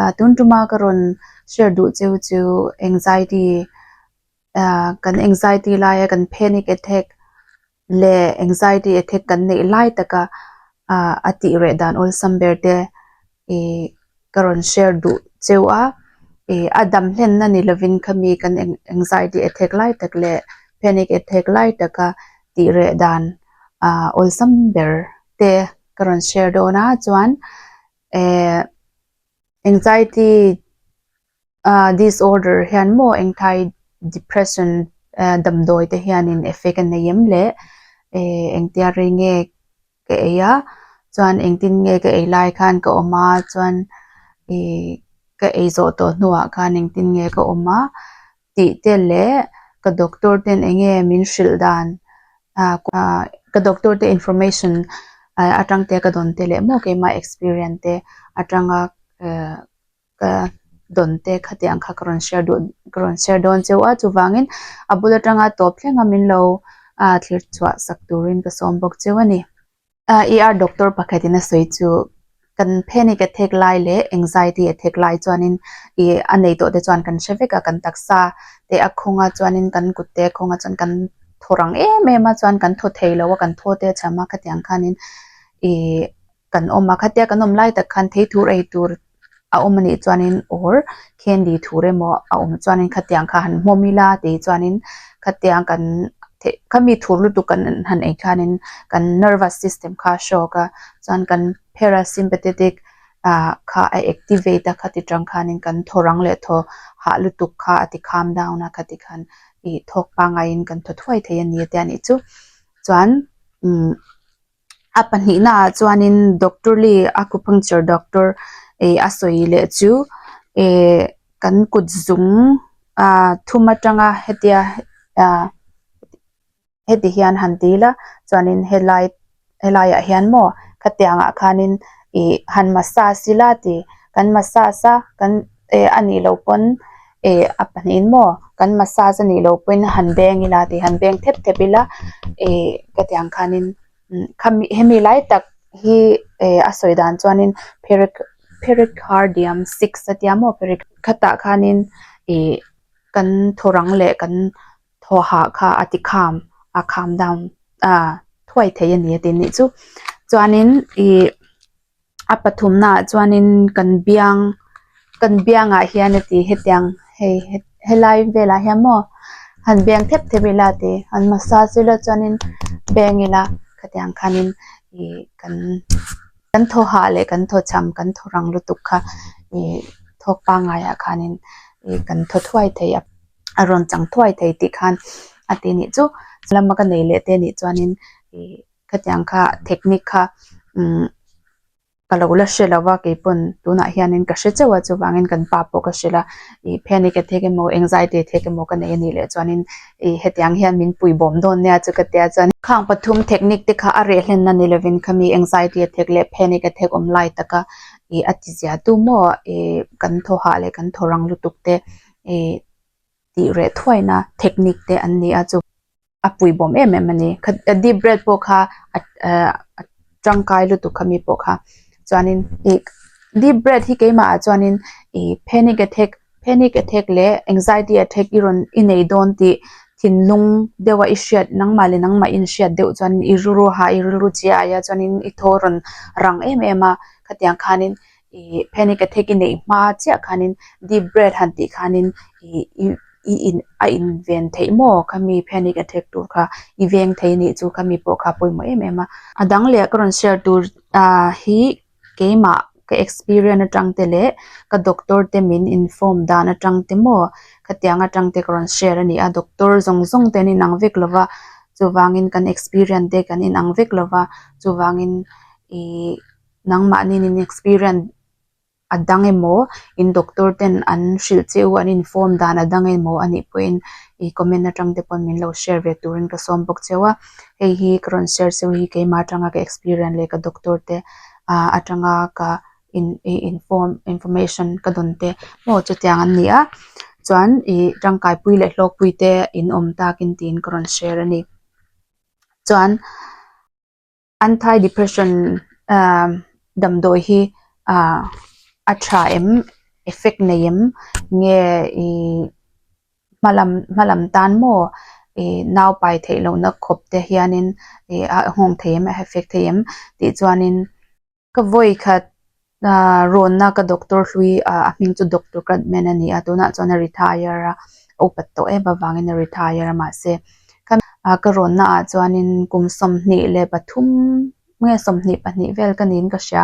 ah tun tuma ka rawn share duh cheu chu anxiety ah kan anxiety laia kan panic attack leh anxiety attack kan neih lai taka ah a tih reh dan awlsam ber te ih ka rawn share duh cheu a ih a dam hlenna ni lovin khami kan anxiety attack lai tak leh panic attack lai taka tih reh dan ah awlsam ber te ka rawn share dawn a chuan-- eh anxiety a disorder hian maw depression eh damdawi te hian in effect a nei em le eh engti a rei nge ka ei a chuan engtin nge ka ei lai khan ka awm a chuan ih ka ei zawh tawh hnuah khan engtin nge ka awm a. tih te leh ka doctor ten eng nge min hrilh dan ah ka doctor te information ah atang te ka dawn te leh maw keimah experience te atanga ah ka dawn te khatiah ang kha ka rawn share duh ka rawn share dawn cheu a chuvangin a bul atanga tawp thleng a min lo ah thlir chhuah sak turin ka sawm bawk cheu a ni. A ER doctor pakhatin a sawi chu kan panic attack lai leh anxiety attack lai chuanin ih a nei tawh te chuan kan hre vek a kan taksa te a khawnga chuanin kan kut te a khawnga chuan kan thaw rang em em a chuan kan thaw theilo a kan thaw te a chham a khatiang khanin ih kan awm a khatia kan awm lai tak khan thei thur ei tur-- a awm a nih chuanin awr candy thur emaw a awm chuanin khatiang kha han hmawm ila tih chuanin khatiang kan theh khami thur lutuk kan han en khianin kan nervous system kha a shock a chuan kan parasympathetic ah kha a activate a khati tang khanin kan thaw rang leh thaw hah lutuk kha a ti calm down a khati khan ih thawk pangngai in kan thaw thuai thei a ni tia nih chu chuan umm. A pahnihnaah chuanin Doctor Lee Acupuncture Doctor ih a sawi leh chu ihh kan kut zung ahh thum atanga hetia ahh heti hian han ti ila chuanin helai helaiah hian maw khatiangah khanin ihh han massage ila tih kan massage a kan-- e a nih loh pawn e a pahnih in maw kan massage a nih loh pawhin han beng ila tih han beng thep thep ila e heti ang khanin imm khami hemi lai tak hi e a sawi dan chuanin six a tia maw khatah khanin ihh kan thawrang leh kan thawhah kha a ti kham a kham down a thuai theih a ni a ti ni chu chuanin ihh-- a pathumnaah chuanin kan biang kan biangah hian a ti hetiang hei helai velah hian maw han biang thep thep ila a ti han massage ila chuanin beng ila khatiang khanin ih kan kan thawha leh kan thawchham kan thaw rang lutuk kha ih thawk pangaiah khanin ih kan thaw thuai thei a a rawn chang thuai thei tih khan a ti ni chu lama ka nei leh te nih chuanin ih-- Khatiang kha technique kha umm ka lo la hre lova keipawn tunah hianin ka hre chauha chuvangin kan pa pawh ka hre la ih panic attack emaw anxiety attack emaw ka nei a nih leh chuanin ih hetiang hian min pui bawm dawn nia chu ka tia chuan khang pathum technique te kha a reh hlen na ni lovin kha mi anxiety attack leh panic attack awm lai taka ih a tizia tu maw ih kan thaw hah leh kan thaw rang lutuk te ih tih reh thuaina technique te an ni a chu. a pui bawm em em a ni kha a deep breath pawh kha a ah a tangkai lutuk kha mi pawh kha chuanin ih deep breath hi keimahah chuanin ih panic attack panic attack leh anxiety attack i rawn i nei dawn tih thinlung deuha i hriat nangmah leh nangmah in hriat deuh chuan i rilru ha i rilru chiaia chuanin i thaw a rawn rang em em a khatiang khanin-- ih panic attack i neih hma chiah khanin deep breath han tih khanin ih i in a inven theih maw ka mi panic attack tur kha i veng thei a nih chu ka mi pawh kha a pawimawh em em a. A dang leh ka rawn share tur ah hi keimah ka experience atang te leh ka doctor te min inform dan atang te maw khatiang atang te ka rawn share a ni a, doctor zawng zawng te an inang vek lo va chuvangin kan experience te kan inang vek lo va chuvangin ih. Nangmah nen inexperience a dang emaw, in doctor ten an hrilh che u an inform dan a dang emaw a nih pawhin i comment atang te pawh min lo share ve turin ka sawm bawk cheu a, hei hi ka rawn share cheu hi keimah atanga ka experience leh ka doctor te ah atanga ka in i inform information ka dawn te maw chutiang an ni a, chuan i tangkaipui leh hlawkpui te inawm takin tiin ka rawn share a ni. Chuan. Anti-depression damdawi hi a tha em, effect nei em, nge hma lam tan maw, nau pai theih lohna khawpte hianin a nghawng thei em, a effect thei em tih chuanin. Ka vawi khat aah rawnna ka doctor hlui ah a hming chu doctor Kradman a ni a, tunah chuan a retire a, a upat tawh em avangin a retire a mahse ka aah ka rawnna ah chuanin kum sawmhnih leh pathum nge sawmhnih pahnih vel ka niin ka hria,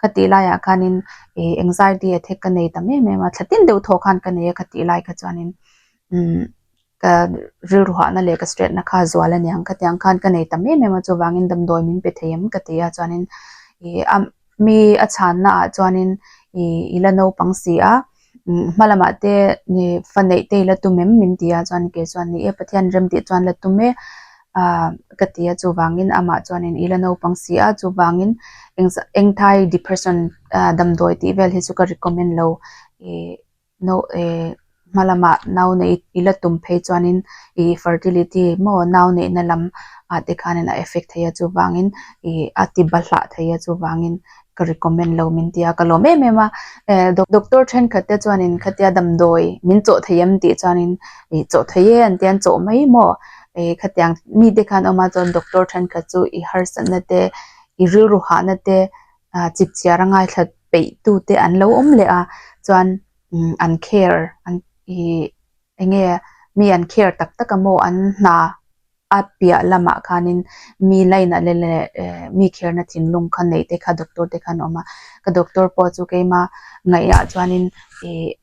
ka tih laiah khanin ih anxiety attack ka nei ta em em a, thlatin deuh thawh khan ka nei a ka tih lai kha chuanin umm. Ka rilruahna leh ka straight na kha zual a niang khatiang khan ka nei ta em em a chuvangin damdawi min pe thei em ka ti a chuanin ih a mi a chhan na ah chuanin ih ila naupang si a hmalamah te ni faneih te ila tum em min ti a chuan kei chuan ni e pathian remti chuan la tum e ah ka ti a chuvangin amah chuanin ila naupang si a chuvangin engzah engthai depression ah damdawi tih vel hi chu ka recommend lo ih. no ehh hma lamah nau neih i la tum phei chuanin ihh fertility maw nau neihna lam ah te khanin a effect thei a chuvangin ihh a ti ba hlah thei a chuvangin ka recommend lo min tia ka lawm em em a ehh doctor thenkhat te chuanin khatia damdawi min chawh thei em tih chuanin ihh chawh theih e an ti a an chawh mai maw ehh khatiang mite khan awm a chuan doctor thenkhat chu i harsatna te i rilru hahna te ahh chikchiara ngaithla-- peihtute an lo awm leh a chuan umm an care an ihh eng nge mi an care tak tak a maw an hna a piah lamah khanin mi line ah leh leh ehh mi kherna thinlung kha neih te kha doctor te kha an awm a ka doctor pawh chu keima ngaihah chuanin ihh--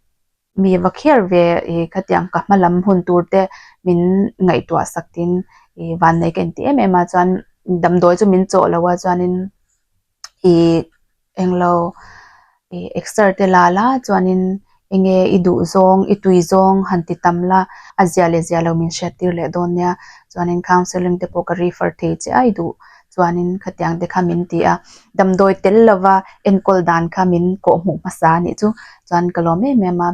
mi va kher ve ih khatiang ka hma lam hun tur te min ngaihtuah sak in ih vannei ka inti em em a chuan damdawi chu min chawh lo a chuanin ih englo ih exer te la la chuanin enge i duh zawng i tui zawng han ti tam la a zia leh zia lo min hriat tir leh dawn nia chuanin counselling te pawh ka refer thei chiah a i duh-- Chuanin khatiang te kha min ti a, damdawi tel lova enkawl dan kha min kawh hmuh hmasa a nih chu. Chuan ka lawm em em a,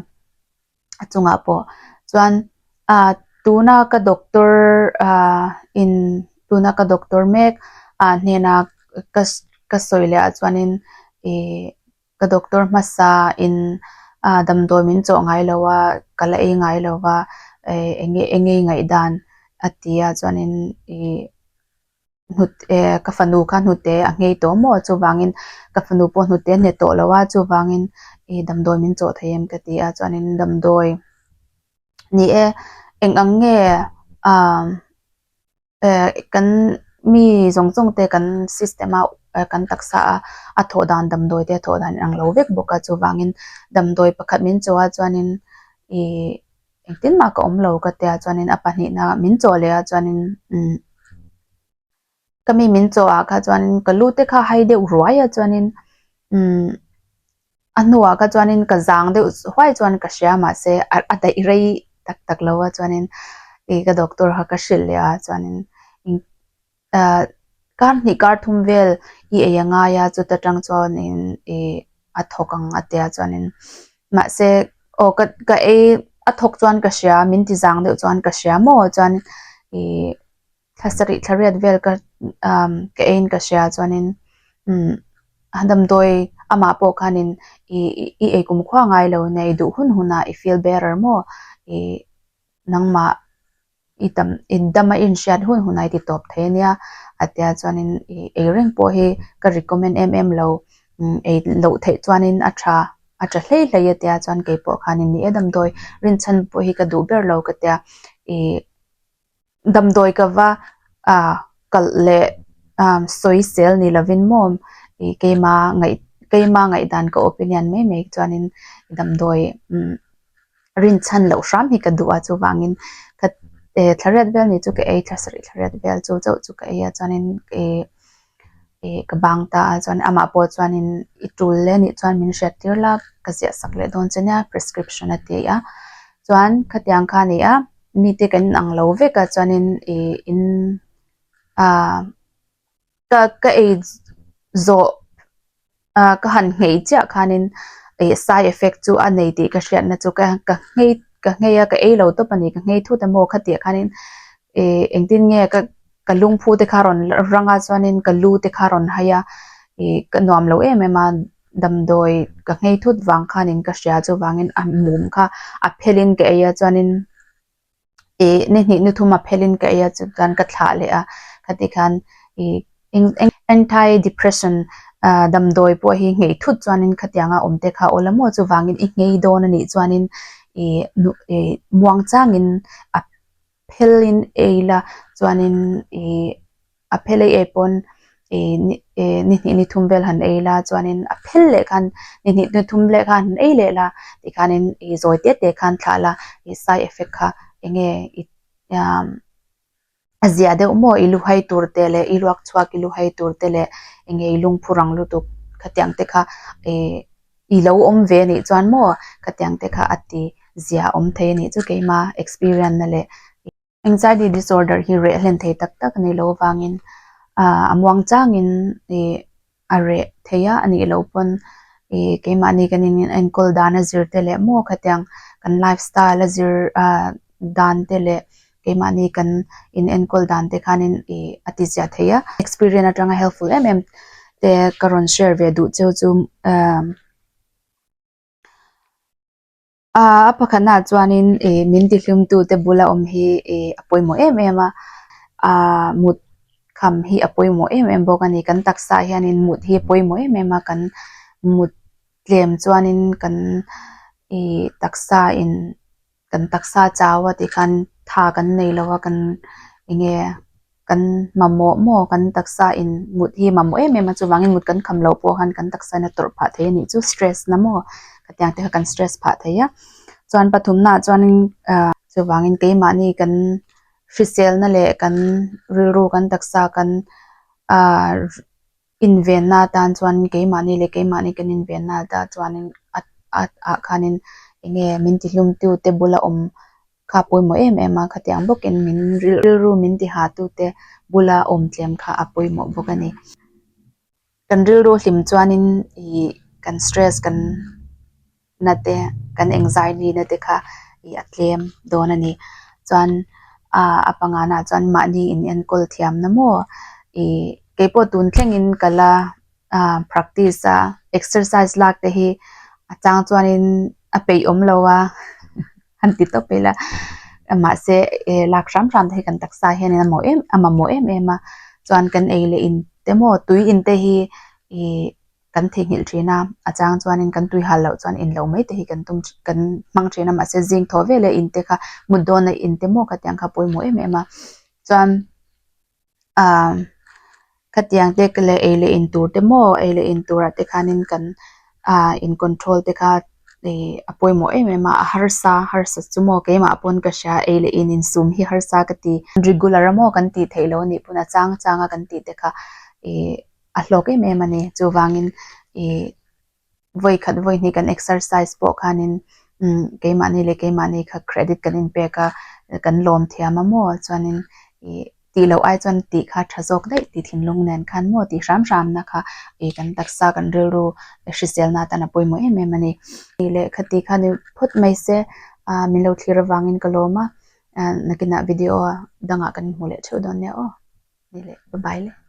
a chungah pawh chuan aaa tuna ka doctor aaa in tuna ka doctor mek aaa hnena ka ka sawi leh ah chuanin ihh ka doctor hmasa in aaa damdawi min chawh ngai lo a, ka la ei ngai lova ehh eng nge eng nge ngaih dan a ti a chuanin ihh. hnute ka fanu kha hnute a nghei tawh maw chuvangin ka fanu pawh hnute a hne tawh lo a chuvangin ih damdawi min chawh thei em ka ti a chuanin damdawi ni e eng ang nge ah eh kan mi zawng zawng te kan system a eh kan taksa a a thawh dan damdawi te a thawh dan ang lo vek bawk a chuvangin damdawi pakhat min chawh a chuanin ih-- Engtin mah ka awm lo ka tia chuanin a pahnihna min chaw leh a chuanin umm ka mi min chaw ah kha chuanin ka lu te kha hai deuh ruai a chuanin umm a hnuah kha chuanin ka zang deuh huai chuan ka hria mahse a daih rei tak tak lo a chuanin ih ka doctor kha ka hrilh leh a chuanin eng-- Aa, kar hnih kar thum vel i ei a ngai a, chuta tang chuanin ih a thawk ang a tia chuanin mahse aw ka ka ei a thawk chuan ka hria min ti zang deuh chuan ka hria maw chuanin ih thla sarih thla riat vel ka umm ka eiin ka hria chuanin umm a damdawi amah pawh khanin ih i ei kum khua ngai lo nia i duh hun hun a i feel better maw ih nangmah i tam i dam a inhriat hun hunah i ti tawp thei a nia a tia ah chuanin ih ei reng pawh hi ka recommend em em lo umm ei loh theih chuanin a tha a tha hle hle a tia chuan kei pawh khan in ni e damdawi rinchhan pawh hi ka duh ber lo ka tia ih damdawi ka va ah kalh leh ah sawi sel ni lovin maw ih keima ngaih keima ngaihdan ka opinion mai mai chuanin damdawi umm-- rin chhan loh hram hi ka duh a chuvangin ka eh thlariat vel ni chu ka ei thla sarih thlariat vel chu chauh chu ka ei a chuanin eh eh ka bang ta a chuan amah pawh chuanin i tul leh anih chuan min hriat tir la ka ziah sak leh dawn che nia prescription a tih a chuan khatiang kha a ni a mite kan in ang lo vek a chuanin ih in ah. ka ka ei zawh ah ka han nghei chiah khanin ih side effect chu a nei tih ka hriatna chu ka ka nghei ka nghei a ka ei lo tawp a ni ka nghei thut a maw khatiah khanin ih engtin nge ka ka lungphu te kha a rawn rang a chuanin ka lu te kha a rawn hai a ih ka nuam loh em em a damdawi ka nghei thut vang khanin ka hria chuvangin a mum kha a phelhin ka ei a chuanin-- Ih, nihnih nuthum a phelhin ka eia chu chuan ka thlah leh a, ka ti khan ih anti depression damdawi pawh hi nghei thut chuanin khatianga awmte kha aw la maw chuvangin i nghei dawn a nih chuanin ih muang changin a phelhin ei la chuanin ih. a phel ei ei pawn ih ni ih nihnih ni thum vel han ei la chuanin a phel leh khan nihnih ni thum vel khan han ei leh la tih khanin ih zawi te te khan thlah la ih side effect kha eng nge ih umm a ziah deuh maw i lu hai tur te leh i ruak chhuak i lu hai tur te leh eng nge i lungphu rang lutuk khatiang te kha ih i lo awm ve a nih chuan maw khatiang te kha a ti ziah awm thei a nih chu keimah experience na leh ih-- Anxiety disorder hi reh hlen thei tak tak a nih loh avangin ah a muang changin ih a reh theih a anih loh pawn ih keimahni kan in enkawl dan a zir te leh maw kha tiang kan life style a zir ah dan te leh keimahni kan in enkawl dan te khanin ih a tiziah theih a experience atanga helpful em em te ka rawn share ve duh cheu chu ah. Aa, a pakhatnaah chuanin e, min tihlimtute bula awm hi e, a pawimawh em em a, aa, mut kham hi a pawimawh em em bawk a ni. Kan taksaah hianin mut hi a pawimawh em em a, kan mut tlem chuanin kan e, taksain, kan taksa chau a tih khan tha kan nei lo a, kan enge. kan mamawh maw kan taksa in mut hi mamawh em em a chuvangin mut kan kham loh pawh khan kan taksa in a tawrh phah thei a nih chu stress na maw hetiang te kha kan stress phah thei a chuan pathumna ah chuanin ah chuvangin keimahni kan hriselna leh kan rilru kan taksa kan ah. Invenna atan chuan keimahni leh keimahni kan invenna ta chuanin a ah khanin eng nge min tihlumtu te bula awm kha a pawimawh em em a khatiang bawkin min rilru min ti hahtu te bula awm tlem kha a pawimawh bawk a ni kan rilru hlim chuanin ihh kan stress kan. na te kan eng zaini na te kha ih a tlem dawn a ni chuan ah a panga nah chuan mahni in enkawl thiam na maw ih keipawh tun thlengin ka la ah practice a exercise lak te hi a chang chuanin a peih awm lo a han ti tawp ila mahse eh lak hram hram te hi kan taksa hianin a mawh em a mamawh em em a chuan kan ei leh in te maw tui in te hi ih-- Kan theihnghilh thin a, a chang chuanin kan tui hal loh chuan inlo mai te hi kan tum kan hmang thin a mahse zing thaw veleh inte kha mut dawn a inte maw khatiang kha a pawimawh em em a chuan ah khatiang te leh ei leh in tur te maw ei leh in tur ah te khanin kan ah in control te kha ih a pawimawh em em a a harsa harsa chu maw keimah pawn ka hria ei leh in in sum hi harsa ka ti regular a maw kan tih theih loh anih pawn a chang chang a kan tih te kha ih-- a hlawk em em a ni chuvangin ihh vawi khat vawi hnih kan exercise pawh khanin imm keimahni leh keimahni kha credit kan inpek a kan lawm thiam a maw chuanin ihh tih loh ai chuan tih kha a tha zawk daih tih thinlung nen khan maw tih hram hram na kha ihh kan taksa kan rilru hriselna atan a pawimawh em em a ni tih leh khati khanin phawt mai se ahh min lo thlir avangin ka lawm a ahh nakinah video a dangah kan hmuh leh theuh dawn nia aw ni leh bye bye.